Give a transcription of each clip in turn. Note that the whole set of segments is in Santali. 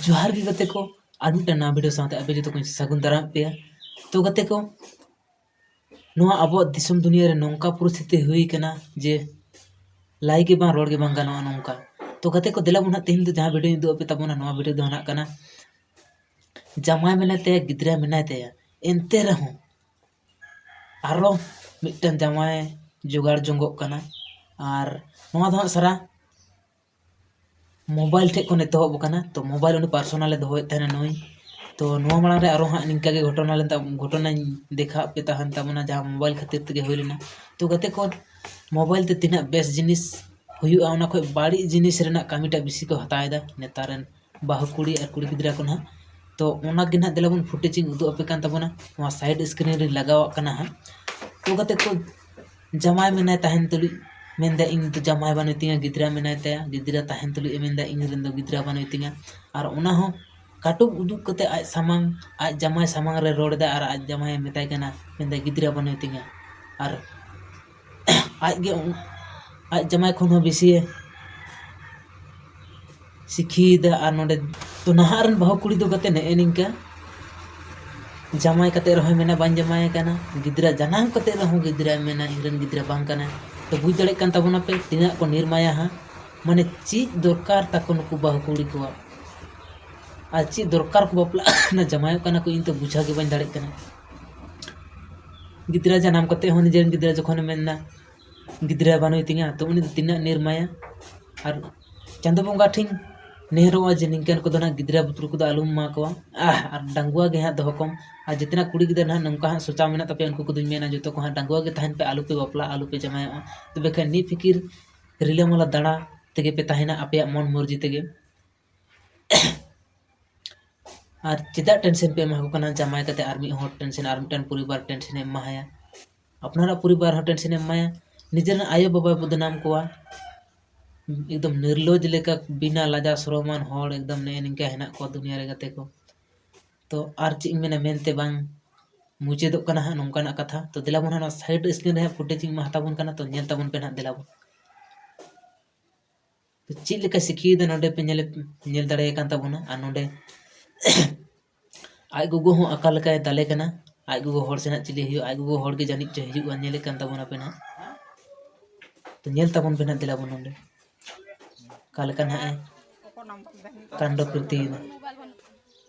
ᱡᱚᱦᱟᱨ ᱜᱮ ᱜᱟᱛᱮ ᱠᱚ ᱟᱨ ᱢᱤᱫᱴᱟᱝ ᱱᱟᱣᱟ ᱵᱷᱤᱰᱤᱭᱳ ᱥᱟᱶᱛᱮ ᱟᱯᱮ ᱡᱚᱛᱚ ᱠᱚᱧ ᱥᱟᱹᱜᱩᱱ ᱫᱟᱨᱟᱢ ᱯᱮᱭᱟ ᱛᱚ ᱜᱟᱛᱮ ᱠᱚ ᱱᱚᱣᱟ ᱟᱵᱚᱣᱟᱜ ᱫᱤᱥᱚᱢ ᱫᱩᱱᱤᱭᱟᱹ ᱨᱮ ᱱᱚᱝᱠᱟ ᱯᱚᱨᱤᱥᱛᱷᱤᱛᱤ ᱦᱩᱭ ᱠᱟᱱᱟ ᱡᱮ ᱞᱟᱭ ᱜᱮ ᱵᱟᱝ ᱨᱚᱲ ᱜᱮ ᱵᱟᱝ ᱜᱟᱱᱚᱜᱼᱟ ᱱᱚᱝᱠᱟ ᱛᱚ ᱜᱟᱛᱮ ᱠᱚ ᱫᱮᱞᱟ ᱵᱚᱱ ᱦᱟᱸᱜ ᱛᱮᱦᱮᱧ ᱫᱚ ᱡᱟᱦᱟᱸ ᱵᱷᱤᱰᱤᱭᱳᱧ ᱩᱫᱩᱜ ᱟᱯᱮ ᱛᱟᱵᱚᱱᱟ ᱱᱚᱣᱟ ᱵᱷᱤᱰᱤᱭᱳ ᱫᱚ ᱦᱟᱸᱜ ᱠᱟᱱᱟ ᱡᱟᱢᱟᱭ ᱢᱮᱱᱟᱭ ᱛᱟᱭᱟ ᱜᱤᱫᱽᱨᱟᱹ ᱢᱮᱱᱟᱭ ᱛᱟᱭᱟ ᱮᱱᱛᱮ ᱨᱮᱦᱚᱸ ᱟᱨᱚ ᱢᱤᱫᱴᱟᱝ ᱡᱟᱶᱟᱭ ᱡᱚᱜᱟᱲ ᱡᱚᱝᱚᱜ ᱠᱟᱱᱟ ᱟᱨ ᱱᱚᱣᱟ ᱫᱚ ᱦᱟᱸᱜ ᱥᱟᱨᱟ ᱢᱳᱵᱟᱭᱤᱞ ᱴᱷᱮᱱ ᱠᱷᱚᱱ ᱮᱛᱚᱦᱚᱵ ᱟᱠᱟᱱᱟ ᱛᱚ ᱢᱳᱵᱟᱭᱤᱞ ᱩᱱᱤ ᱯᱟᱨᱥᱳᱱᱟᱞᱮ ᱫᱚᱦᱚᱭᱮᱫ ᱛᱟᱦᱮᱱᱟ ᱱᱩᱭ ᱛᱚ ᱱᱚᱣᱟ ᱢᱟᱲᱟᱝ ᱨᱮ ᱟᱨᱚ ᱦᱟᱸᱜ ᱱᱤᱝᱠᱟᱹ ᱜᱮ ᱜᱷᱚᱴᱚᱱᱟ ᱞᱮᱱ ᱛᱟᱵᱚᱱᱟ ᱜᱷᱚᱴᱚᱱᱟᱧ ᱫᱮᱠᱷᱟᱣ ᱟᱯᱮ ᱛᱟᱦᱮᱱ ᱛᱟᱵᱚᱱᱟ ᱡᱟᱦᱟᱸ ᱢᱳᱵᱟᱭᱤᱞ ᱠᱷᱟᱹᱛᱤᱨ ᱛᱮᱜᱮ ᱦᱩᱭ ᱞᱮᱱᱟ ᱛᱚ ᱜᱟᱛᱮ ᱠᱚ ᱢᱳᱵᱟᱭᱤᱞ ᱛᱮ ᱛᱤᱱᱟᱹᱜ ᱵᱮᱥ ᱡᱤᱱᱤᱥ ᱦᱩᱭᱩᱜᱼᱟ ᱚᱱᱟ ᱠᱷᱚᱱ ᱵᱟᱹᱲᱤᱡ ᱡᱤᱱᱤᱥ ᱨᱮᱱᱟᱜ ᱠᱟᱹᱢᱤᱴᱟᱜ ᱵᱮᱥᱤ ᱠᱚ ᱦᱟᱛᱟᱣᱮᱫᱟ ᱱᱮᱛᱟᱨ ᱨᱮᱱ ᱵᱟᱹᱦᱩ ᱠᱩᱲᱤ ᱟᱨ ᱠᱩᱲᱤ ᱜᱤᱫᱽᱨᱟᱹ ᱠᱚ ᱱᱟᱦᱟᱜ ᱛᱚ ᱚᱱᱟᱜᱮ ᱱᱟᱦᱟᱜ ᱫᱮᱞᱟ ᱵᱚᱱ ᱯᱷᱩᱴᱮᱡᱽ ᱤᱧ ᱩᱫᱩᱜ ᱟᱯᱮ ᱠᱟᱱ ᱛᱟᱵᱚᱱᱟ ᱱᱚᱣᱟ ᱥᱟᱭᱤᱰ ᱥᱠᱨᱤᱱ ᱨᱤᱧ ᱞᱟᱜᱟᱣᱟᱜ ᱠᱟᱱᱟ ᱦᱟᱸᱜ ᱛᱚ ᱠᱟᱛᱮᱫ ᱠᱚ ᱡᱟᱶᱟᱭ ᱢᱮᱱᱟᱭ ᱛᱟᱦᱮᱱ ᱛᱩᱞᱩᱡ ᱢᱮᱱᱫᱟᱭ ᱤᱧ ᱫᱚ ᱡᱟᱶᱟᱭ ᱵᱟᱹᱱᱩᱭ ᱛᱤᱧᱟᱹ ᱜᱤᱫᱽᱨᱟᱹ ᱢᱮᱱᱟᱭ ᱛᱟᱭᱟ ᱜᱤᱫᱽᱨᱟᱹ ᱛᱟᱦᱮᱱ ᱛᱩᱞᱩᱡ ᱮ ᱢᱮᱱᱫᱟ ᱤᱧ ᱨᱮᱱ ᱫᱚ ᱜᱤᱫᱽᱨᱟᱹ ᱵᱟᱹᱱᱩᱭ ᱛᱤᱧᱟᱹ ᱟᱨ ᱚᱱᱟ ᱦᱚᱸ ᱠᱟᱹᱴᱩᱵ ᱩᱫᱩᱜ ᱠᱟᱛᱮᱫ ᱟᱡ ᱥᱟᱢᱟᱝ ᱟᱡ ᱡᱟᱶᱟᱭ ᱥᱟᱢᱟᱝ ᱨᱮ ᱨᱚᱲ ᱮᱫᱟᱭ ᱟᱨ ᱟᱡ ᱡᱟᱶᱟᱭᱮ ᱢᱮᱛᱟᱭ ᱠᱟᱱᱟ ᱢᱮᱱᱫᱟᱭ ᱜᱤᱫᱽᱨᱟᱹ ᱵᱟᱹᱱᱩᱭ ᱛᱤᱧᱟᱹ ᱟᱨ ᱟᱡ ᱜᱮ ᱟᱡ ᱡᱟᱢᱟᱭ ᱠᱷᱚᱱ ᱦᱚᱸ ᱵᱮᱥᱤᱭᱮ ᱥᱤᱠᱷᱤᱭᱮᱫᱟ ᱟᱨ ᱱᱚᱰᱮ ᱛᱚ ᱱᱟᱦᱟᱜ ᱨᱮᱱ ᱵᱟᱹᱦᱩ ᱠᱩᱲᱤ ᱫᱚ ᱠᱟᱛᱮ ᱱᱮᱜᱼᱮ ᱱᱤᱝᱠᱟᱹ ᱡᱟᱢᱟᱭ ᱠᱟᱛᱮ ᱨᱮᱦᱚᱸᱭ ᱢᱮᱱᱟ ᱵᱟᱹᱧ ᱡᱟᱢᱟᱭ ᱟᱠᱟᱱᱟ ᱜᱤᱫᱽᱨᱟᱹ ᱡᱟᱱᱟᱢ ᱠᱟᱛᱮ ᱨᱮᱦᱚᱸ ᱜᱤᱫᱽᱨᱟᱹᱭ ᱢᱮᱱᱟ ᱤᱧ ᱨᱮᱱ ᱜᱤᱫᱽᱨᱟᱹ ᱵᱟᱝ ᱠᱟᱱᱟᱭ ᱛᱚ ᱵᱩᱡᱽ ᱫᱟᱲᱮᱭᱟᱜ ᱠᱟᱱ ᱛᱟᱵᱚᱱᱟ ᱯᱮ ᱛᱤᱱᱟᱹᱜ ᱠᱚ ᱱᱤᱨᱢᱟᱭᱟ ᱦᱟᱸᱜ ᱢᱟᱱᱮ ᱪᱮᱫ ᱫᱚᱨᱠᱟᱨ ᱛᱟᱠᱚ ᱱᱩᱠᱩ ᱵᱟᱹᱦᱩ ᱠᱩᱲᱤ ᱠᱚᱣᱟᱜ ᱟᱨ ᱪᱮᱫ ᱫᱚᱨᱠᱟᱨ ᱠᱚ ᱵᱟᱯᱞᱟᱜ ᱠᱟᱱᱟ ᱡᱟᱢᱟᱭᱚᱜ ᱠᱟᱱᱟ ᱠᱚ ᱤᱧ ᱛᱚ ᱵᱩᱡᱷᱟᱹᱣ ᱜᱮ ᱵᱟᱹᱧ ᱫᱟᱲᱮᱭᱟᱜ ᱠᱟᱱᱟ ᱜᱤᱫᱽᱨᱟᱹ ᱡᱟᱱᱟᱢ ᱠᱟᱛᱮ ᱦᱚᱸ ᱱᱤᱡᱮᱨᱮᱱ ᱜᱤᱫᱽᱨᱟᱹ ᱡᱚᱠᱷᱚᱱᱮ ᱢᱮᱱᱫᱟ ᱜᱤᱫᱽᱨᱟᱹ ᱵᱟᱹᱱᱩᱭ ᱛᱤᱧᱟᱹ ᱛᱚ ᱩᱱᱤ ᱫᱚ ᱛᱤᱱᱟᱹᱜ ᱱᱤᱨᱢᱟᱭᱟ ᱟᱨ ᱪᱟᱸᱫᱚ ᱵᱚᱸᱜᱟ ᱴᱷᱮᱱ ᱱᱮᱦᱚᱨᱚᱜᱼᱟ ᱡᱮ ᱱᱤᱝᱠᱟᱹᱱ ᱠᱚᱫᱚ ᱱᱟᱜ ᱜᱤᱫᱽᱨᱟᱹ ᱯᱤᱫᱽᱨᱟᱹ ᱠᱚᱫᱚ ᱟᱞᱚᱢ ᱮᱢᱟ ᱠᱚᱣᱟ ᱟᱨ ᱰᱟᱺᱜᱩᱣᱟᱹ ᱜᱮ ᱦᱟᱸᱜ ᱫᱚᱦᱚ ᱠᱚᱢ ᱟᱨ ᱡᱮᱛᱮᱱᱟᱜ ᱠᱩᱲᱤ ᱜᱤᱫᱽᱨᱟᱹ ᱱᱟᱜ ᱱᱚᱝᱠᱟ ᱦᱟᱸᱜ ᱥᱚᱪᱟᱣ ᱢᱮᱱᱟᱜ ᱛᱟᱯᱮᱭᱟ ᱩᱱᱠᱩ ᱠᱚᱫᱚᱧ ᱢᱮᱱᱟ ᱡᱚᱛᱚ ᱠᱚ ᱦᱟᱸᱜ ᱰᱟᱺᱜᱩᱣᱟᱹ ᱜᱮ ᱛᱟᱦᱮᱱ ᱯᱮ ᱟᱞᱚᱯᱮ ᱵᱟᱯᱞᱟᱜᱼᱟ ᱟᱞᱚᱯᱮ ᱡᱟᱶᱟᱭᱚᱜᱼᱟ ᱛᱚᱵᱮ ᱠᱷᱟᱱ ᱱᱤᱯᱷᱤᱠᱤᱨ ᱨᱤᱞᱟᱹᱢᱟᱞᱟ ᱫᱟᱬᱟ ᱛᱮᱜᱮ ᱯᱮ ᱛᱟᱦᱮᱱᱟ ᱟᱯᱮᱭᱟᱜ ᱢᱚᱱ ᱢᱚᱨᱡᱤ ᱛᱮᱜᱮ ᱟᱨ ᱪᱮᱫᱟᱜ ᱴᱮᱱᱥᱮᱱ ᱯᱮ ᱮᱢᱟ ᱠᱚ ᱠᱟᱱᱟ ᱡᱟᱶᱟᱭ ᱠᱟᱛᱮ ᱟᱨ ᱢᱤᱫ ᱦᱚᱲ ᱴᱮᱱᱥᱮᱱ ᱟᱨ ᱢᱤᱫᱴᱟᱝ ᱯᱚᱨᱤᱵᱟᱨ ᱴᱮᱱᱥᱮᱱᱮ ᱮᱢᱟ ᱦᱟᱭᱟ ᱟᱯᱱᱟᱨᱟᱜ ᱯᱚᱨᱤᱵᱟᱨ ᱦᱚᱸ ᱴᱮᱱᱥᱮᱱᱮ ᱮᱢᱟᱭᱟ ᱱᱤᱡᱮᱨᱮᱱ ᱟᱭᱳ ᱵᱟᱵᱟᱭ ᱵᱚᱫᱽᱱᱟᱢ ᱠᱚᱣᱟ ᱮᱠᱫᱚᱢ ᱱᱤᱨᱞᱚᱡᱽ ᱞᱮᱠᱟ ᱵᱤᱱᱟ ᱞᱟᱡᱟᱣ ᱥᱚᱨᱚᱢᱟᱱ ᱦᱚᱲ ᱮᱠᱫᱚᱢ ᱱᱮᱜᱼᱮ ᱱᱤᱝᱠᱟᱹ ᱦᱮᱱᱟᱜ ᱠᱚᱣᱟ ᱫᱩᱱᱤᱭᱟᱹ ᱨᱮ ᱜᱟᱛᱮ ᱠᱚ ᱛᱚ ᱟᱨ ᱪᱮᱫ ᱤᱧ ᱢᱮᱱᱟ ᱢᱮᱱᱛᱮ ᱵᱟᱝ ᱢᱩᱪᱟᱹᱫᱚᱜ ᱠᱟᱱᱟ ᱦᱟᱸᱜ ᱱᱚᱝᱠᱟᱱᱟᱜ ᱠᱟᱛᱷᱟ ᱛᱚ ᱫᱮᱞᱟ ᱵᱚᱱ ᱦᱟᱸᱜ ᱱᱚᱣᱟ ᱥᱟᱭᱤᱰ ᱥᱠᱨᱤᱱ ᱨᱮ ᱦᱟᱸᱜ ᱯᱷᱩᱴᱮᱡᱽ ᱤᱧ ᱮᱢᱟ ᱦᱟᱛᱟᱵᱚᱱ ᱠᱟᱱᱟ ᱛᱚ ᱧᱮᱞ ᱛᱟᱵᱚᱱ ᱯᱮ ᱱᱟᱦᱟᱜ ᱫᱮᱞᱟ ᱵᱚᱱ ᱪᱮᱫ ᱞᱮᱠᱟ ᱥᱤᱠᱷᱤᱭᱮᱫᱟ ᱱᱚᱰᱮ ᱯᱮ ᱧᱮᱞᱮᱫ ᱧᱮᱞ ᱫᱟᱲᱮᱭᱟᱭ ᱠᱟᱱ ᱛᱟᱵᱚᱱᱟ ᱟᱨ ᱱᱚᱰᱮ ᱟᱡ ᱜᱚᱜᱚ ᱦᱚᱸ ᱟᱠᱟ ᱞᱮᱠᱟᱭ ᱫᱟᱞᱮ ᱠᱟᱱᱟ ᱟᱡ ᱜᱚᱜᱚ ᱦᱚᱲ ᱥᱮ ᱱᱟᱜ ᱪᱤᱞᱤ ᱦᱩᱭᱩᱜᱼᱟ ᱟᱡ ᱜᱚᱜᱚ ᱦᱚᱲ ᱜᱮ ᱡᱟᱹᱱᱤᱡ ᱪᱚᱭ ᱦᱤᱡᱩᱜᱼᱟ ᱧᱮᱞᱮᱫ ᱠᱟᱱ ᱛᱟᱵᱚᱱᱟ ᱯᱮ ᱱᱟᱜ ᱛᱚ ᱧᱮᱞ ᱛᱟᱵᱚᱱ ᱯᱮ ᱱᱟᱜ ᱫᱮᱞᱟ ᱵᱚᱱ ᱱᱚᱰᱮ ᱚᱠᱟ ᱞᱮᱠᱟ ᱱᱟᱜ ᱮ ᱠᱟᱱᱰᱚ ᱠᱨᱤᱛᱤᱭᱮᱫᱟ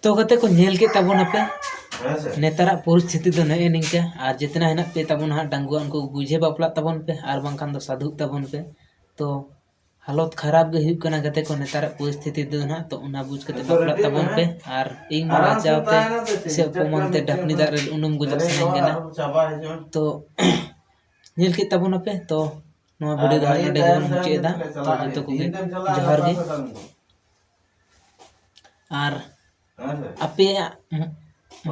ᱛᱚ ᱜᱟᱛᱮ ᱠᱚ ᱧᱮᱞ ᱠᱮᱫ ᱛᱟᱵᱚᱱᱟᱯᱮ ᱱᱮᱛᱟᱨᱟᱜ ᱯᱚᱨᱤᱥᱛᱷᱤᱛᱤ ᱫᱚ ᱱᱮᱜᱼᱮ ᱱᱤᱝᱠᱟ ᱟᱨ ᱡᱮᱛᱱᱟ ᱦᱮᱱᱟᱜ ᱯᱮ ᱛᱟᱵᱚᱱ ᱦᱟᱸᱜ ᱰᱟᱺᱜᱩᱣᱟᱹ ᱩᱱᱠᱩ ᱵᱩᱡᱷᱟᱹᱣ ᱵᱟᱯᱞᱟᱜ ᱛᱟᱵᱚᱱ ᱯᱮ ᱟᱨ ᱵᱟᱝᱠᱷᱟᱱ ᱫᱚ ᱥᱟᱹᱫᱷᱩᱜ ᱛᱟᱵᱚᱱ ᱯᱮ ᱛᱚ ᱦᱟᱞᱚᱛ ᱠᱷᱟᱨᱟᱯ ᱜᱮ ᱦᱩᱭᱩᱜ ᱠᱟᱱᱟ ᱜᱟᱛᱮ ᱠᱚ ᱱᱮᱛᱟᱨᱟᱜ ᱯᱚᱨᱤᱥᱛᱷᱤᱛᱤ ᱫᱚ ᱦᱟᱸᱜ ᱛᱚ ᱚᱱᱟ ᱵᱩᱡᱽ ᱠᱟᱛᱮ ᱵᱟᱯᱞᱟᱜ ᱛᱟᱵᱚᱱ ᱯᱮ ᱟᱨ ᱤᱧ ᱢᱟ ᱞᱟᱡᱟᱣ ᱛᱮ ᱥᱮ ᱚᱯᱚᱢᱟᱱ ᱛᱮ ᱰᱷᱟᱠᱱᱤ ᱫᱟᱜ ᱨᱮ ᱩᱱᱩᱢ ᱜᱚᱡᱚᱜ ᱥᱟᱱᱟᱧ ᱠᱟᱱᱟ ᱛᱚ ᱧᱮᱞ ᱠᱮᱫ ᱛᱟᱵᱚᱱᱟᱯᱮ ᱛᱚ ᱱᱚᱣᱟ ᱵᱷᱤᱰᱤᱭᱳ ᱫᱚ ᱱᱚᱰᱮ ᱜᱮᱵᱚᱱ ᱢᱩᱪᱟᱹᱫ ᱮᱫᱟ ᱛᱚ ᱡᱚᱛᱚ ᱠᱚᱜᱮ ᱡᱚᱦᱟᱨ ᱜᱮ ᱟᱨ ᱟᱯᱮᱭᱟᱜ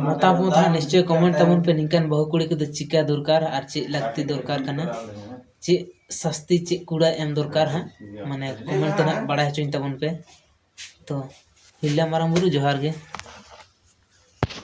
ᱢᱚᱛᱟᱢᱚᱛ ᱦᱚᱸ ᱱᱤᱥᱪᱚᱭ ᱠᱚᱢᱮᱱᱴ ᱛᱟᱵᱚᱱ ᱯᱮ ᱱᱤᱝᱠᱟᱱ ᱵᱟᱹᱦᱩ ᱠᱩᱲᱤ ᱠᱚᱫᱚ ᱪᱤᱠᱟᱹ ᱫᱚᱨᱠᱟᱨ ᱟᱨ ᱪᱮᱫ ᱞᱟᱹᱠᱛᱤ ᱫᱚᱨᱠᱟᱨ ᱠᱟᱱᱟ ᱪᱮᱫ ᱥᱟᱹᱥᱛᱤ ᱪᱮᱫ ᱠᱩᱲᱟᱹᱭ ᱮᱢ ᱫᱚᱨᱠᱟᱨ ᱦᱟᱸᱜ ᱢᱟᱱᱮ ᱠᱚᱢᱮᱱᱴ ᱛᱮ ᱦᱟᱸᱜ ᱵᱟᱲᱟᱭ ᱦᱚᱪᱚᱧ ᱛᱟᱵᱚᱱ ᱯᱮ ᱛᱚ ᱛᱤᱨᱞᱟᱹ ᱢᱟᱨᱟᱝ ᱵᱩᱨᱩ ᱡᱚᱦᱟᱨ ᱜᱮ